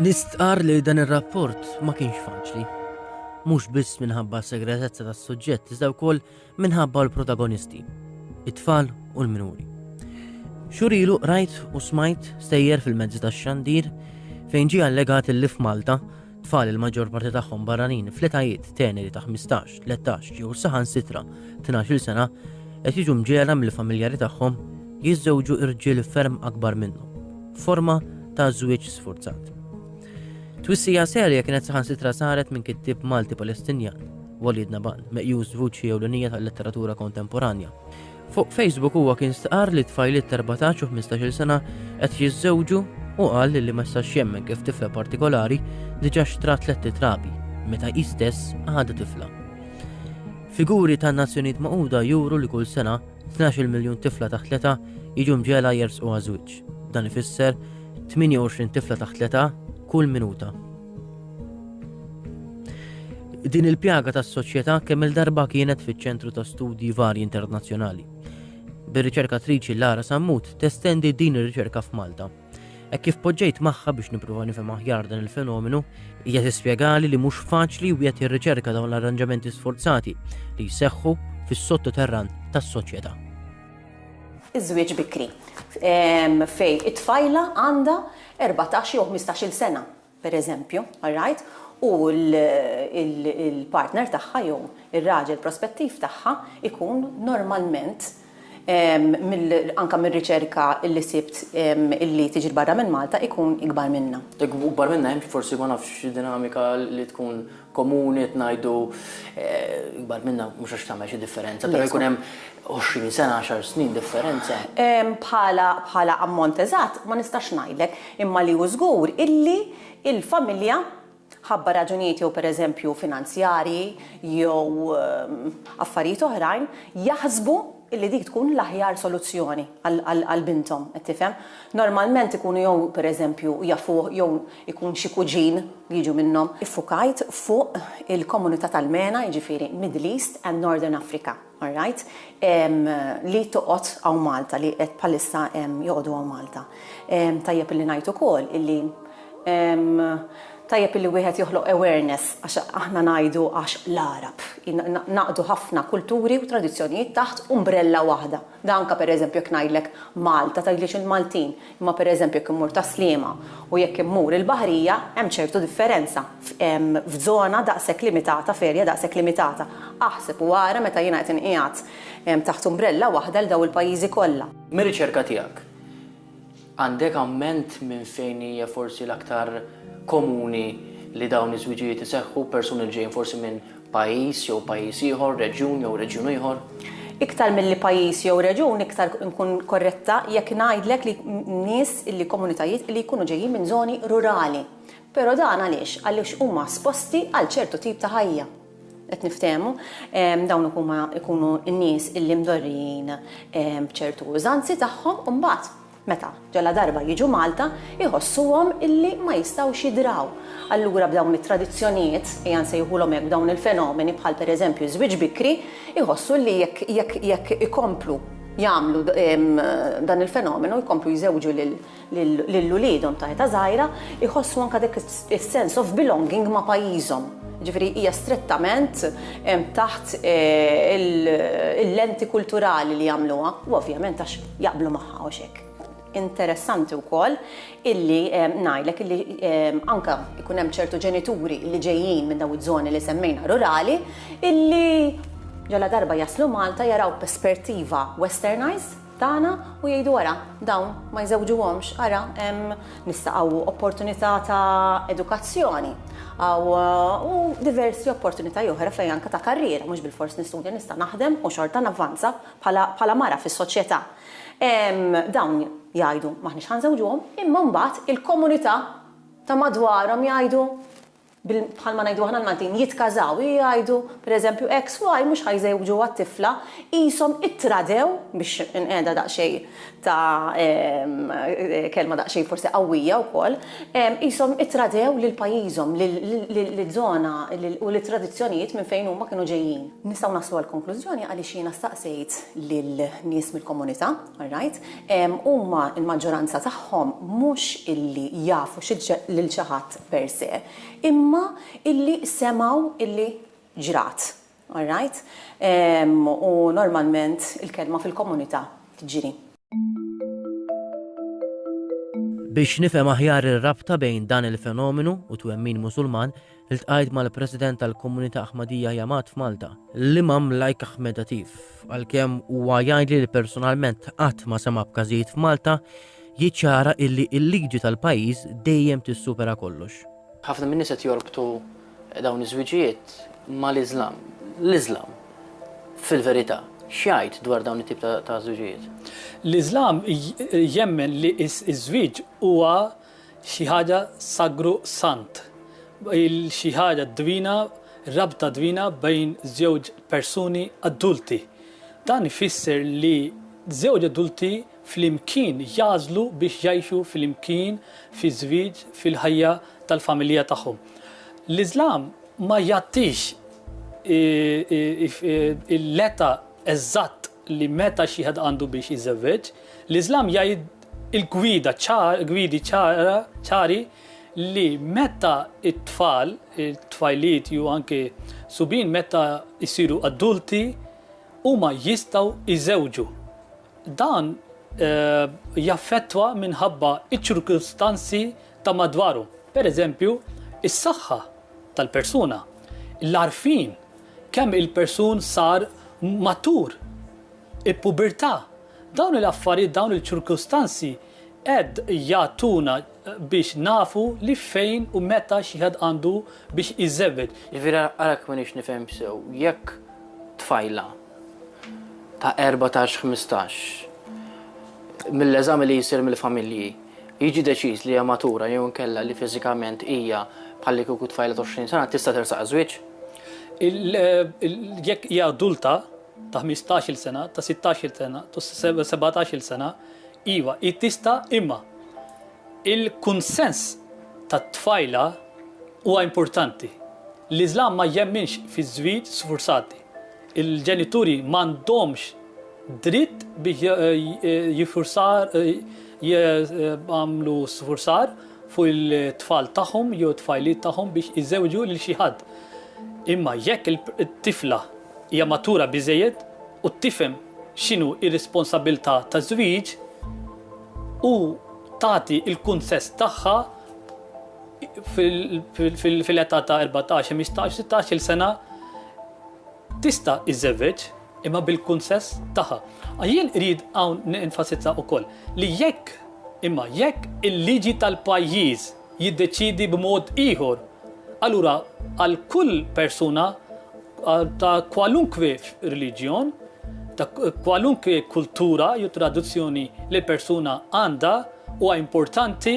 Nistqar li dan ir-rapport ma kienx faċli. Mhux biss minħabba segretezza tas-suġġett iżda wkoll minħabba l-protagonisti, it-tfal u l-minuri. Xurilu rajt u smajt stejjer fil-mezzi tax-xandir fejn ġie allegat il-lif Malta Tfal il-maġġor parti tagħhom barranin fl-etajiet teneri ta' 15, 13 jew saħansitra 12 sena qed jiġu mġela mill-familjari tagħhom jiżżewġu irġiel ferm akbar minnhom, forma ta' żwieġ sfurzat. Twissija serja kienet saħansitra saret minn kittib Malti Palestinjan, Walid Naban, meqjus vuċi ewlenija tal-letteratura kontemporanja. Fuq Facebook huwa kien stqar li tfajliet ta' 14 u 15-il sena qed jiżżewġu u qal li ma jistax jemmen kif tifla partikolari diġà xtrat tliet titrabi meta hi stess għadha tifla. Figuri tan-Nazzjonijiet Magħquda juru li kull sena 12 miljun tifla taħt l-età jiġu mġela jersqu għaż-żwieġ. Dan ifisser 28 tifla taħt l-età kull minuta. Din il-pjaga tas-soċjetà kemm il-darba kienet fiċ-ċentru ta' studji varji internazzjonali. Bir-riċerkatriċi Lara Sammut testendi din ir-riċerka f'Malta. Hekk kif poġġejt magħha biex nippruva nifhem aħjar dan il-fenomenu, hija tispjegali li mhux faċli wieħed jirriċerka dawn l-arranġamenti sforzati li jseħħu fis-sottoterran tas-soċjetà. Iż-żwieġ bikri fej it-tfajla għandha erbatax jew ħmistax-il sena, pereżempju, all right, u l-partner tagħha jew ir-raġel prospettiv tagħha jkun normalment, anke mir-riċerka li sibt li tiġi 'l barra minn Malta, ikun ikbar minnha. Jekk ikun ikbar minnha, hemm forsi ma nafx xi dinamika li tkun komuni qed ngħidu ikbar minna mhux għax tagħmel xi differenza però jkun hemm għoxrin sena għaxar snin differenza. Bħala bħala ammont eżatt ma nistax ngħidlek imma li hu żgur illi l-familja ħabba raġunijiet jew per eżempju finanzjarji jew affarijiet oħrajn jaħsbu illi dik tkun l-aħjar soluzzjoni għal binthom, qed tifhem? Normalment ikunu jew pereżempju jafuh jew ikun xi kuġin li jiġu minnhom. Iffukajt fuq il-komunità tal-MENA, jiġifieri Middle East and Northern Africa, all right, li toqgħod hawn Malta, li qed bħalissa joqogħdu hawn Malta. Tajjeb illi ngħid ukoll illi Tajjeb illi wieħed joħloq awareness għax aħna ngħidu għax l-Għarab. Jingħaqdu ħafna kulturi u tradizzjonijiet taħt umbrella waħda. Dan anke pereżempju jekk ngħidlek Malta tgħidlix il-Maltin, imma pereżempju jekk immur Tas-Sliema u jekk immur il-Baħrija hemm ċertu differenza f'żona daqshekk limitata, f'area daqshekk limitata. Aħseb u ara meta jiena qed inqiegħed taħt umbrella waħda lil dawn il-pajjiżi kollha. Mir-riċerka tiegħek, Għandek amment minn fejn hija forsi l-aktar komuni li dawn iż-żwiġijiet iseħħu, persuni li ġejjin forsi minn pajjiż jew pajjiż ieħor, reġjun jew reġjun ieħor? Iktar milli pajjiż jew reġjun iktar inkun korretta jekk ngħidlek li nies li komunitajiet li jkunu ġejjin minn żoni rurali. Però dan għaliex? Għaliex huma esposti għal ċertu tip ta' ħajja. qed niftehmu, dawn huma jkunu n-nies illi mdorrijin b'ċertu użanzi tagħhom u mbagħad meta ġaladarba jiġu Malta jħossuhom illi ma jistgħux jidraw. Allura b'dawn it-tradizzjonijiet, ejja nsejħulhom hekk, b'dawn il-fenomeni bħal pereżempju ż-żwieġ bikri, iħossu illi jekk jekk jekk ikomplu jagħmlu dan il-fenomenu, jkomplu jżewġu lil lil uliedhom ta' età żgħira jħossu anke dak is-sense of belonging ma' pajjiżhom. Jiġifieri hija strettament taħt il-lenti kulturali li jagħmluha u ovvjament għax jaqblu magħha u x'hekk. Interessanti wkoll illi ngħidlek illi anke jkun hemm ċertu ġenituri li ġejjin minn dawn iż-żoni li semmejna rurali illi ġaladarba jaslu Malta jaraw perspertiva westernised, tagħna u jgħidu ara dawn ma jżewġuhomx, ara hemm nista' hawn opportunità ta' edukazzjoni, hawn diversi opportunitajiet oħra fejn anke ta' karriera, mhux bilfors nistudja nista' naħdem u xorta navvanza bħala mara fis-soċjetà. Dawn jgħidu m'aħniex ħa nżewġuhom imma mbagħad il-komunità ta' madwarhom jgħidu, bil, bħalma ngħidu aħna l-Maltin, jitkażaw, jgħidu, per eżempju, X u Y mhux ħajżewġu għat-tifla, qishom ittradew, biex inqiegħdha daqsxejn ta' kelma daqsxejn forsi qawwija wkoll, qishom ittradew lil pajjiżhom, liż-żona u lit-tradizzjonijiet minn fejn huma kienu ġejjin. Nistgħu naslu għall-konklużjoni għaliex jiena staqsejt lin-nies mill-komunità, alright, huma l-maġġoranza tagħhom mhux illi jafu lil xi ħadd per se, imma illi semgħu illi ġrat. All right? U normalment il-kelma fil-komunità tġri. Biex nifhem aħjar ir-rabta bejn dan il-fenomenu u twemmin Musulman, iltqajt mal-President tal-Komunità Ahmadiyyah Jamaat f'Malta, l-Imam Lajk Ahmed Atif, għalkemm huwa jgħidli li personalment qatt ma sema' b'każijiet f'Malta jiċċara illi l-liġi tal-pajjiż dejjem tissupera kollox. Ħafna min-nies qed jorbtu dawn iż-żwiġijiet mal-Iżlam. L-Iżlam, fil-verità, x'jgħid dwar dawn it-tip ta' żwiġijiet? L-Iżlam jemmen li ż-żwieġ huwa xi ħaġa sagru sant, xi ħaġa dwina, rabta dwina bejn żewġ persuni adulti. Dan ifisser li żewġ adulti flimkien jagħżlu biex jgħixu flimkien fiż-żwieġ fil-ħajja tal-familja tagħhom. L-Iżlam ma jgħattix l-età eżatt li meta xi ħadd għandu biex iżewweġ. L-Iżlam jgħid il-gwida ċar, gwidi ċara, ċari li meta it-tfal, it-tfajliet jew anke subin meta jsiru adulti huma jistgħu jżewġu. Dan jaffettwa minħabba ċ-ċirkustanzi ta' madwaru, pereżempju, is-saħħa tal-persuna, l-għarfien, kemm il-persun sar matur, il-pubertà. Dawn l-affarijiet, dawn il-ċirkustanzi qed jagħtuna biex nafu li fejn u meta xi ħadd għandu biex iżewweġ. Jiġifieri ara kif minix nifhem sew, jekk tfajla ta' erbatax ħmistax mill-eżami li jsir mill-familji jiġi deċiż li hija matura jew inkella li fiżikament hija bħalli kieku tfajla ta' 20 sena tista' tersaq għaż-żwieġ. Jekk hija adulta ta' ħmistax-il sena, ta' sittax-il sena, ta' sebgħatax-il sena, iva, hi tista' imma il-kunsens tat-tfajla huwa importanti. L-Iżlam ma jemminx fiż-żwieġ sfurzati. Il-ġenituri m'għandhomx dritt biex jagħmlu sfurzar fuq it-tfal tagħhom jew it-tfajliet tagħhom biex iżewġu lil xi ħadd. Imma jekk it-tifla hija matura biżżejjed u tifhem x'inhu r-responsabbiltà taż-żwieġ u tagħti l-kunsess tagħha, fil-età ta' 14, 15, 16 il-sena tista' iżżewweġ imma bil-kunsess tagħha. Jien rrid hawn nenfasizza wkoll li jekk imma jekk il-liġi tal-pajjiż jiddeċidi b'mod ieħor, allura għal kull persuna ta' kwalunkwe reliġjon, ta' kwalunkwe kultura jew traduzzjoni li persuna għandha huwa importanti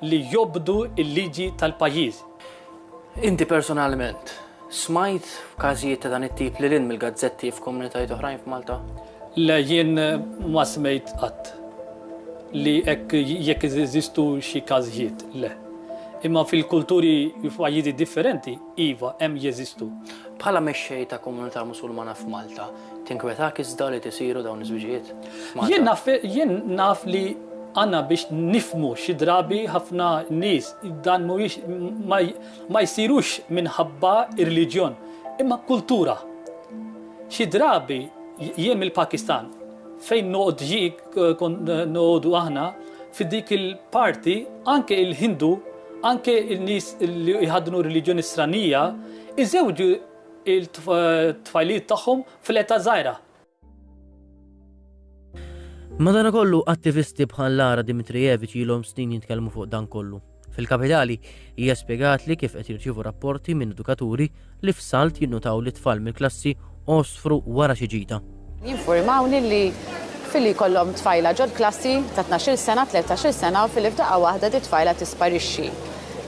li jobdu l-liġi tal-pajjiż. Inti personalment smajt f'każijiet ta' dan it-tip lil hinn mill-gazzetti f'komunitajiet oħrajn f'Malta? Le, jien ma smejt qatt li hekk jekk jeżistu xi każijiet, le. Imma fil-kulturi f'pajjiżi differenti, Iva, hemm jeżistu. Bħala mexxej ta' komunità Musulmana f'Malta, tinkwetak iżda li tisiru dawn iż-żwiġijiet? Jien naf jien naf li għandna biex nifhmu xi drabi ħafna nies dan mhuwiex ma ma jsirux minħabba r-reliġjon imma kultura. Xi drabi jien mill-Pakistan fejn noqgħod jien kont noqogħdu aħna fi dik il-parti anke l-Hindu Anke n-nies li jħaddnu reliġjoni stranija jżewġu t-tfajliet tagħhom fl-età żgħira. Madanakollu, attivisti bħal Lara Dimitrijeviċ ilhom snin jitkellmu fuq dan kollu. Fil-Kapitali, hija spjegatli kif qed jirċievu rapporti minn edukaturi li f'salt jinnutaw li tfal mill-klassi għosfru wara xi ġita. Jinfurmawni li filli jkollhom tfajla ġol-klassi ta' tnax-il sena, tletax-il sena u filli f'daqqa waħda di tfajla tisparixxi.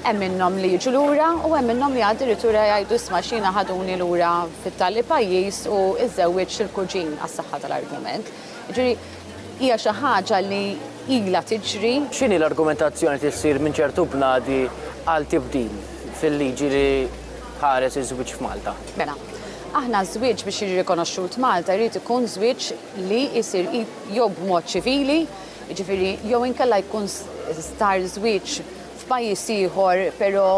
Hemm minnhom li jiġu lura u hemm minnhom li addirittura jgħidu isma' x'jiena ħaduni lura fit-tali pajjiż u żżewwiġt xil-kuġin għas-saħħa tal-argument. Jiġifieri hija xi ħaġa li ilha tiġri. X'inhi l-argumentazzjoni li ssir minn ċertu bnadi għal tibdil fil-liġi li tħares iż-żwieġ f'Malta? Mela, aħna ż-żwieġ biex jiġi rikonoxxut Malta jrid ikun żwieġ li jsir jew b'mod ċivili, jiġifieri jew inkella jkun star żwieġ f'pajjiż ieħor però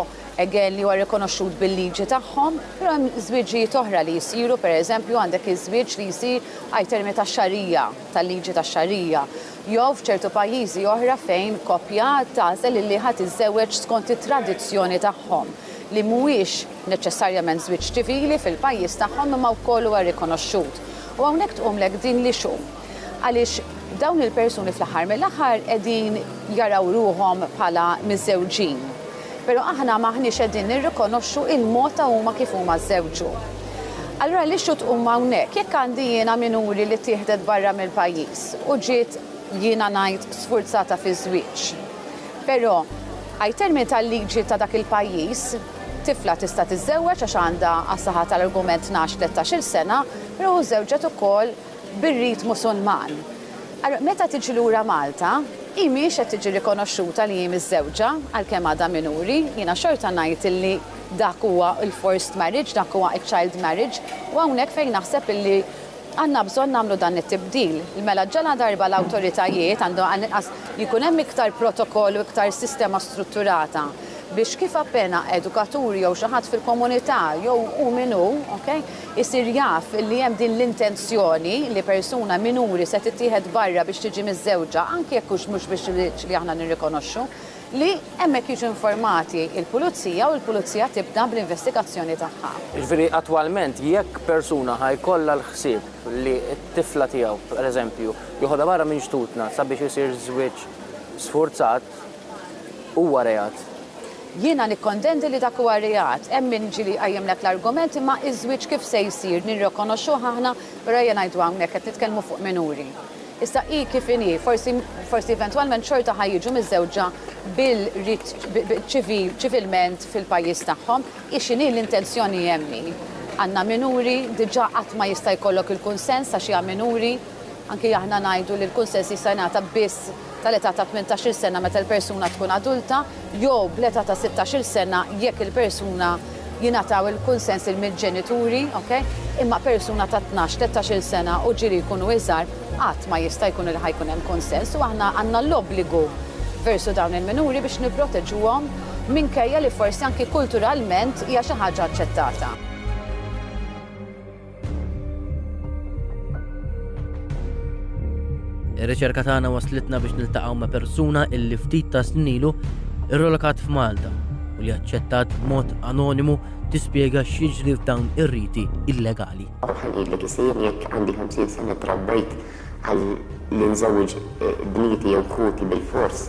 again li huwa rikonoxxut bil-liġi tagħhom, però hemm żwieġijiet oħra li jsiru, pereżempju għandek iż-żwieġ li jsir ai termini tax-xarija, tal-liġi tax-xarija, jew f'ċertu pajjiżi oħra fejn koppja tagħżel illi ħa tiżżewweġ skont it-tradizzjoni tagħhom, li mhuwiex neċċessarjament żwieġ ċivili fil-pajjiż tagħhom imma wkoll huwa rikonoxxut. U hawnhekk tqumlek din l-issue. Għaliex dawn il-persuni fl-aħħar mill-aħħar qegħdin jaraw ruħhom bħala miżżewġin. Però aħna m'aħniex qegħdin nirrikonoxxu l-mod ta' huma kif huma żżewġu. Allura l-issue tqum hawnhekk, jekk għandi jiena minuri li ttieħdet barra mill-pajjiż u ġiet, jiena ngħid, sfurzata fiż-żwieġ. Però, ai termini tal-liġi ta' dak il-pajjiż, tifla tista' tiżżewweġ għax għandha, għas-saħħa tal-argument, tnax, tlettax-il sena, però u żżewġet ukoll, bir-ritmu Sunman. Allura, meta tiġi lura Malta, hi mhix qed tiġi rikonoxxuta li hi miżżewġa, għalkemm għadha minuri. Jiena xorta ngħid illi dak huwa l-forced marriage, dak huwa ċ-child marriage, u hawnhekk fejn naħseb illi għandna bżonn nagħmlu dan it-tibdil. Mela ġaladarba l-awtoritajiet għandhom għall-inqas jkun hemm iktar protokoll u iktar sistema strutturata biex kif appena edukatur jew xi ħadd fil-komunità jew hu min hu, okay, isir jaf li hemm din l-intenzjoni li persuna minuri se tittieħed barra biex tiġi miżżewġa, anki jekk hux mhux biex liġ li aħna nirrikonoxxu, li hemmhekk jiġu informati l-pulizija u l-pulizija tibda bl-investigazzjoni tagħha. Jiġifieri attwalment jekk persuna ħa jkollha l-ħsieb li t-tifla tiegħu, pereżempju, joħodha barra minn xtutna sabiex isir żwieġ sfurzat, huwa reat. Jiena nikkondendi li dak huwa reat. Hemm min ġieli jqajjimlek l-argument imma iż-żwieġ kif se jsir? Nirrikonoxxuh aħna, u rajja ngħidu hawnhekk, qed nitkellmu fuq minuri. Issa hi kif inhi, forsi forsi eventwalment xorta ħa jiġu miżżewġa bil-rit ċivil ċivilment fil-pajjiż tagħhom. Hi x'inhi l-intenzjoni hemm hi. Għandna minuri, diġà qatt ma jista' jkollok il-kunsens għax hija minuri. Anki aħna ngħidu li l-kunsens jista' jingħata biss tal-età ta' tmintax-il sena meta l-persuna tkun adulta jew bl-età ta' sittax-il sena jekk il-persuna jingħataw il-kunsens il mill-ġenituri, ok? Imma persuna ta' tnax, tlettax-il sena u ġieli jkunu iżgħar qatt ma jista' jkun li ħa jkun hemm kunsens u aħna għandna l-obbligu versu dawn il-minuri biex nipproteġuhom minkejja li forsi anki kulturalment hija xi ħaġa aċċettata. Ir-riċerka tagħna waslitna biex niltaqgħu ma' persuna illi ftit ta' snilu irrolokat f'Malta u li aċċettat b'mod anonimu tispjega x'jiġri f'dawn ir-riti illegali. Bħal li kisir jekk għandi 50 sena trabbejt għal li nżewġ eh, bnieti jew ħuti bil-fors.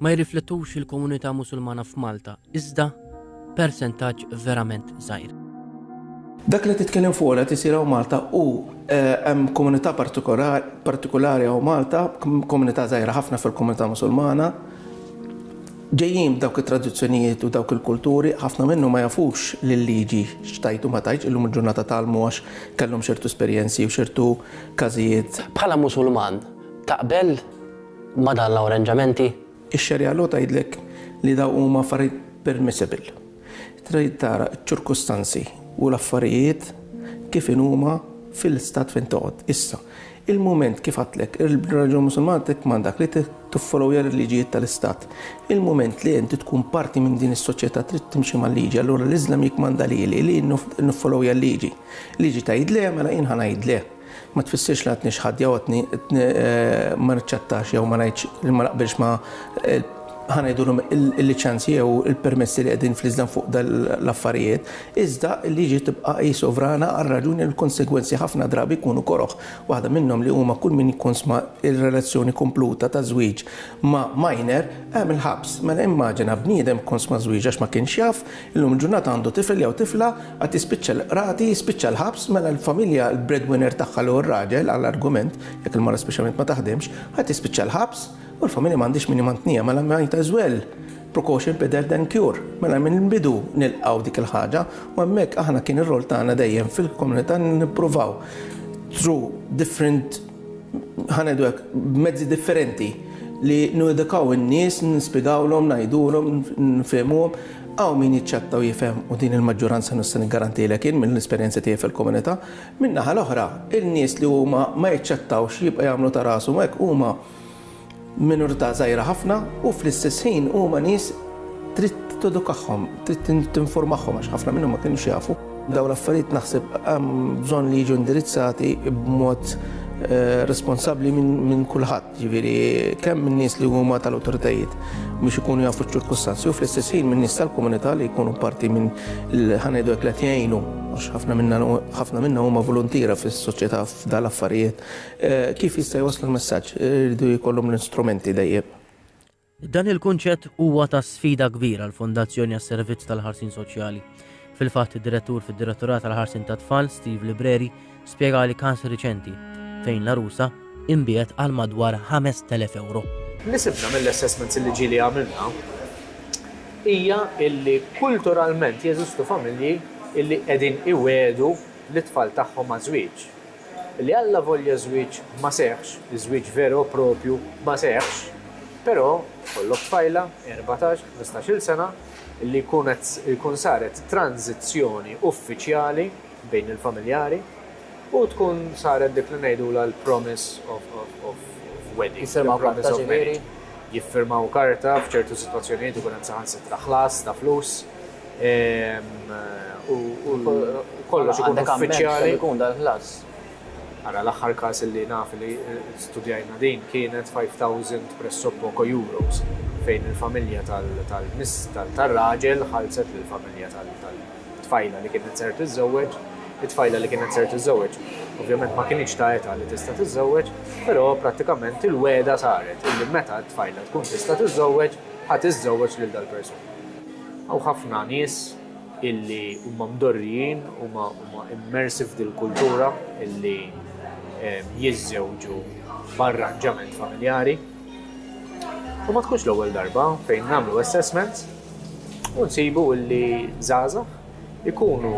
ma jirriflettux il-komunità Musulmana f'Malta, iżda persentaġġ verament żgħir. Dak li titkellem fuqu qed isir hawn Malta u hemm komunità partikolari hawn Malta, komunità żgħira ħafna fil-komunità Musulmana, ġejjin b'dawk it-tradizzjonijiet u dawk il-kulturi, ħafna minnu ma jafux li l-liġi xtajtu ma tajċ illum il-ġurnata talmu għax kellhom xertu esperjenzi u xertu każijiet. Bħala Musulman, taqbel ma' dan l-awranġamenti? Ix-Xari'a law tgħidlek li dawn huma affarijiet permissible. Trid tara ċ-ċirkustanzi u l-affarijiet kif inhuma fil-Stat fejn toqgħod. Issa, il-mument kif għedtlek, ir-reliġjon Musulmana tikkmandak li tiffolowja l-liġijiet tal-Istat. Il-mument li inti tkun parti minn din is-soċjetà trid timxi mal-liġi, allura l-Iżlam jikkmanda lili li niffolowja l-liġi. Liġi tgħid le, mela jien ħa ngħid le. Ma tfissirx li għadni xi ħadd jew għadni ma naċċettax jew ma ngħidx li ma naqbilx ma' ħa ngħidulhom il-liċenzji jew il-permessi li qegħdin fl-iżdan fuq l-affarijiet, iżda l-liġi tibqa' hi sovrana għar-raġuni li l-konsegwenzi ħafna drabi jkunu koroh, waħda minnhom li huma kull min jikkonsma r-relazzjoni kompluta ta' żwieġ ma' minor hemm il-ħabs. Mela immaġina bniedem kkonsma żwieġ għax ma kienx jaf Illum il-ġurnata għandu tifel jew tifla, għad jispiċċa l-qrati, jispiċċa l-ħabs, mela l-familja, l-breadwinner tagħha li hu r-raġel, għal argument, jekk il-mara speċjalment ma taħdimx, għad jispiċċa l-ħabs, u l-familja m'għandhix min imantniha, mela might as well, precaution better than cure. Mela mill-bidu nilqgħu dik il-ħaġa u hemmhekk aħna kien ir-rol tagħna dejjem fil-komunità nippruvaw through different ħa ngħidu hekk, b'mezzi differenti li nuedukaw in-nies, nispjegawlhom, ngħidulhom, nfehmuhom. Hawn min jiċċetta u jifhem u din il-maġġuranza nista' niggarantilek jien mill-esperjenza tiegħi fil-komunità. Min-naħa l-oħra, in-nies li huma ma jiċċettawx jibqa' jagħmlu ta' rashom hekk huma Minorità żgħira ħafna u fl-istess ħin huma nies trid tedukahom, trid tinformahom għax ħafna minnhom ma kinux jafu. Dawn l-affarijiet naħseb hemm bżonn li jiġu indirizzati b'mod eh, responsabbli minn kulħadd, ġifieri kemm min-nies li huma tal-awtoritajiet biex ikunu jafu ċ-ċirkustanzi u fl-istess ħin min-nies tal-komunità li jkunu parti minn ħanejdu hekk qed jgħinu għax ħafna minna huma volontira fis-soċjetà f'dal affarijiet Kif jista' jwasslu l-messaġġ? Iridu jkollhom l-istrumenti dejjem. Dan il-kunċett huwa ta' sfida kbira għall-Fondazzjoni għas-Servizz tal-Ħarsien Soċjali. Fil-fatt id-Direttur fid-Direttorat għall-Ħarsien tat-Tfal, Steve Libreri, spjegali każ riċenti fejn l-għarusa inbiegħet għal madwar 5,000 ewro. Li sibna mill-assessments il-liġi li għamilna hija li kulturalment jeżistu familji li qegħdin iwiegħdu lit-tfal tagħhom għaż-żwieġ. Li allavolja ż-żwieġ ma seħħx, iż-żwieġ veru u proprju ma seħħx, però jkollok tfajla, erbatax, ħmistax-il sena, li jkun qed jkun saret tranżizzjoni uffiċjali bejn il-familjari u tkun saret dik li ngħidulha l-promise of wedding. Jiffirmaw karta, ġifieri? Jiffirmaw karta, f'ċertu sitwazzjonijiet ikun hemm saħansitra ħlas ta' flus. u kollox ikun uffiċjali. Kemm ikun dal-ħlas? Ara, l-aħħar każ li naf li studjajna din kienet 5,000 pressoppoco euros fejn il-familja tar-raġel ħallset lill-familja tat-tfajla li kienet ser tiżżewweġ. It-tfajla li kienet ser tiżżewweġ ovvjament ma kinitx ta' età li tista' tiżżewweġ, però prattikament il-wegħda saret illi meta t-tfajla tkun tista' tiżżewweġ, ħa tiżżewweġ lil dal-persuna. Hawn ħafna nies illi huma mdorrijin, huma huma immersi f'dil-kultura illi jiżżewġu b'arranġament familjari. U ma tkunx l-ewwel darba fejn nagħmlu assessment u nsibu illi żgħażagħ ikunu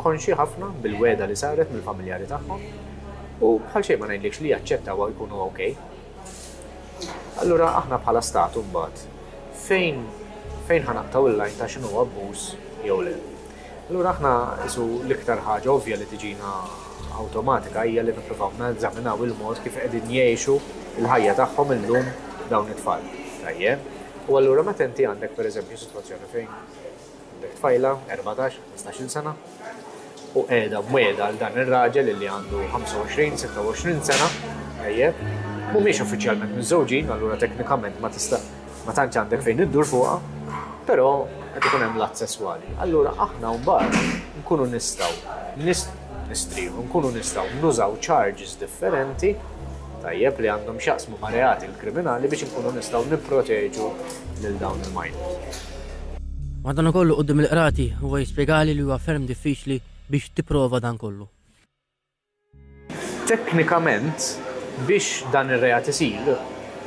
konxi ħafna bil-wegħda li saret mill-familjari tagħhom u bħal xejn ma ngħidlikx li jaċċettaw jkunu okej. Allura aħna bħala Stat imbagħad fejn fejn ħa naqtgħu l-lajn ta' x'inhu abbuż jew le? Allura aħna isu l-iktar ħaġa ovvja li tiġina awtomatika hija li nippruvaw neżaminaw il-mod kif qegħdin jgħixu l-ħajja tagħhom illum dawn it-tfal. Tajjeb? U allura meta inti għandek pereżempju sitwazzjoni fejn Għandek tfajla, erbatax, ħmistax-il sena, u qiegħda mwiegħda għal dan ir-raġel illi għandu 25, 26 sena, tajjeb, mhumiex uffiċjalment miżżewġin, allura teknikament ma tista' ma tantx għandek fejn iddur fuqha, però qed ikun hemm l-att sesswali. Allura aħna mbagħad nkunu nistgħu nistrieħu, nkunu nistgħu nużaw charges differenti tajjeb li għandhom x'jaqsmu ma' reati l-kriminali biex inkunu nistgħu nipproteġu lil dawn il-minors. Madanakollu quddiem il-Qrati huwa jispjegali li huwa ferm diffiċli biex tipprova dan kollu. Teknikament, biex dan ir-reat isir,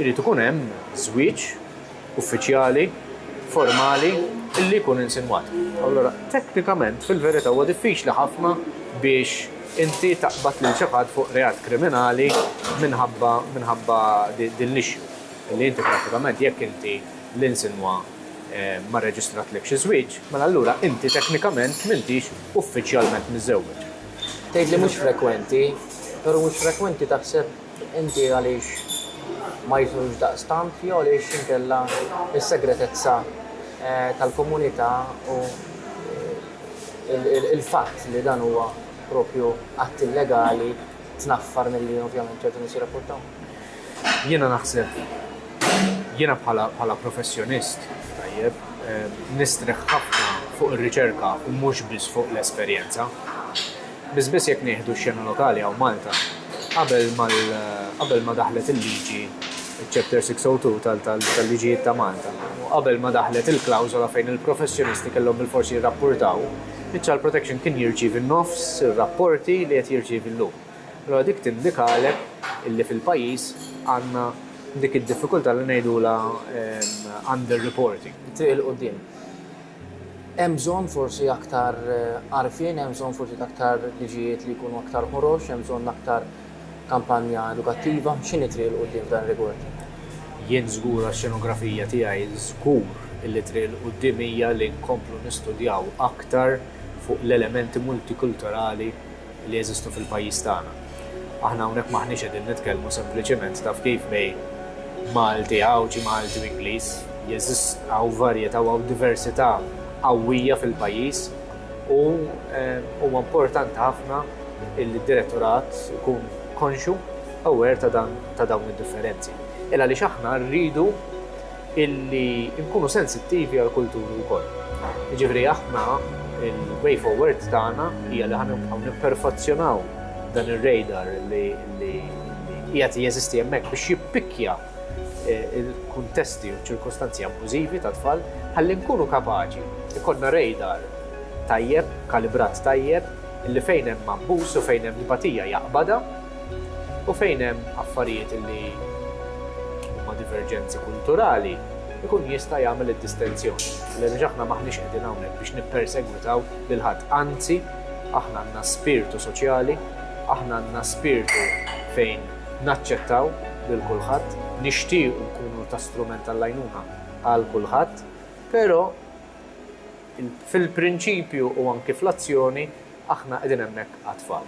irid ikun hemm żwieġ uffiċjali, formali, li jkun insinwat. Allura, teknikament, fil-verità huwa diffiċli ħafna biex inti taqbad lil xi ħadd fuq reat kriminali minħabba minħabba din l-issue. Li inti prattikament jekk inti l-insinwa ma rreġistratlekx iż-żwieġ, mela allura inti teknikament m'intix uffiċjalment miżżewweġ. Tgħid li mhux frekwenti, però mhux frekwenti taħseb? Inti għaliex ma jidħlux daqstant jew għaliex inkella s-segretezza tal-komunità u l-fatt li dan huwa proprju att illegali tnaffar milli ovvjament ċertu nies jirrapportaw? Jiena naħseb, jiena bħala professjonist, tajjeb, nistrieħ ħafna fuq ir-riċerka u mhux biss fuq l-esperjenza. Biss biss jekk nieħdu x-xena lokali hawn Malta, qabel mal qabel ma daħlet il-liġi ċ-Chapter 602 tal tal-liġijiet ta' Malta u qabel ma daħlet il-klawżola fejn il-professjonisti kellhom bil-fors jirrapportaw, iċ-child protection kien jirċievi nofs ir-rapporti li qed jirċievi llum. Allura dik tindikalek illi fil-pajjiż għandna dik id-diffikultà li ngħidulha under-reporting. It-triq 'il quddiem. Hemm bżonn forsi aktar għarfien, hemm bżonn forsi ta' aktar liġijiet li jkunu aktar ħorox, hemm bżonn aktar kampanja edukattiva. X'inhi t-triq 'l quddiem f'dan ir-rigward? Jien żgur għax-xenografija tiegħi, żgur li t-triq 'l quddiem hija li nkomplu nistudjaw aktar fuq l-elementi multikulturali, li jeżistu fil-pajjiż tagħna. Aħna hawnhekk m'aħniex qegħdin nitkellmu sempliċiment taf kif bejn Malti, Għawdxi, Malti u Ingliż. Jeżist, hawn varjetà u hawn diversità qawwija fil-pajjiż u huwa importanti ħafna illi d-Direttorat ikun konxju, aware ta' dan, ta' dawn id-differenzi. Il-għaliex aħna rridu illi nkunu sensittivi għall-kulturi wkoll. Jiġifieri aħna l-way forward tagħna hija li ħa nibqgħu nipperfazzjonaw dan ir-radar li qiegħed jeżisti hemmhekk biex jippikkja l-kuntesti u ċ-ċirkostanzi abbużivi tat-tfal ħalli nkunu kapaċi jkollna radar tajjeb, kalibrat tajjeb, illi fejn hemm abbuż u fejn hemm tbatija jaqbadha, U fejn hemm affarijiet li huma diverġenzi kulturali, ikun jista' jagħmel id-distenzjoni. Għaliex aħna m'aħniex qegħdin hawnhekk biex nippersegwitaw lil ħadd. Anzi, aħna għandna spirtu soċjali, aħna għandna spirtu fejn naċċettaw lil kulħadd, nixtiequ nkunu ta' strument għall-għajnuna għal kulħadd, però fil-prinċipju u anki fl-azzjoni aħna qegħdin hemmhekk għat-tfal.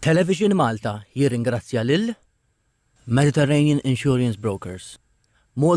Television Malta jirringrazzja lil, Mediterranean Insurance Brokers, Malta,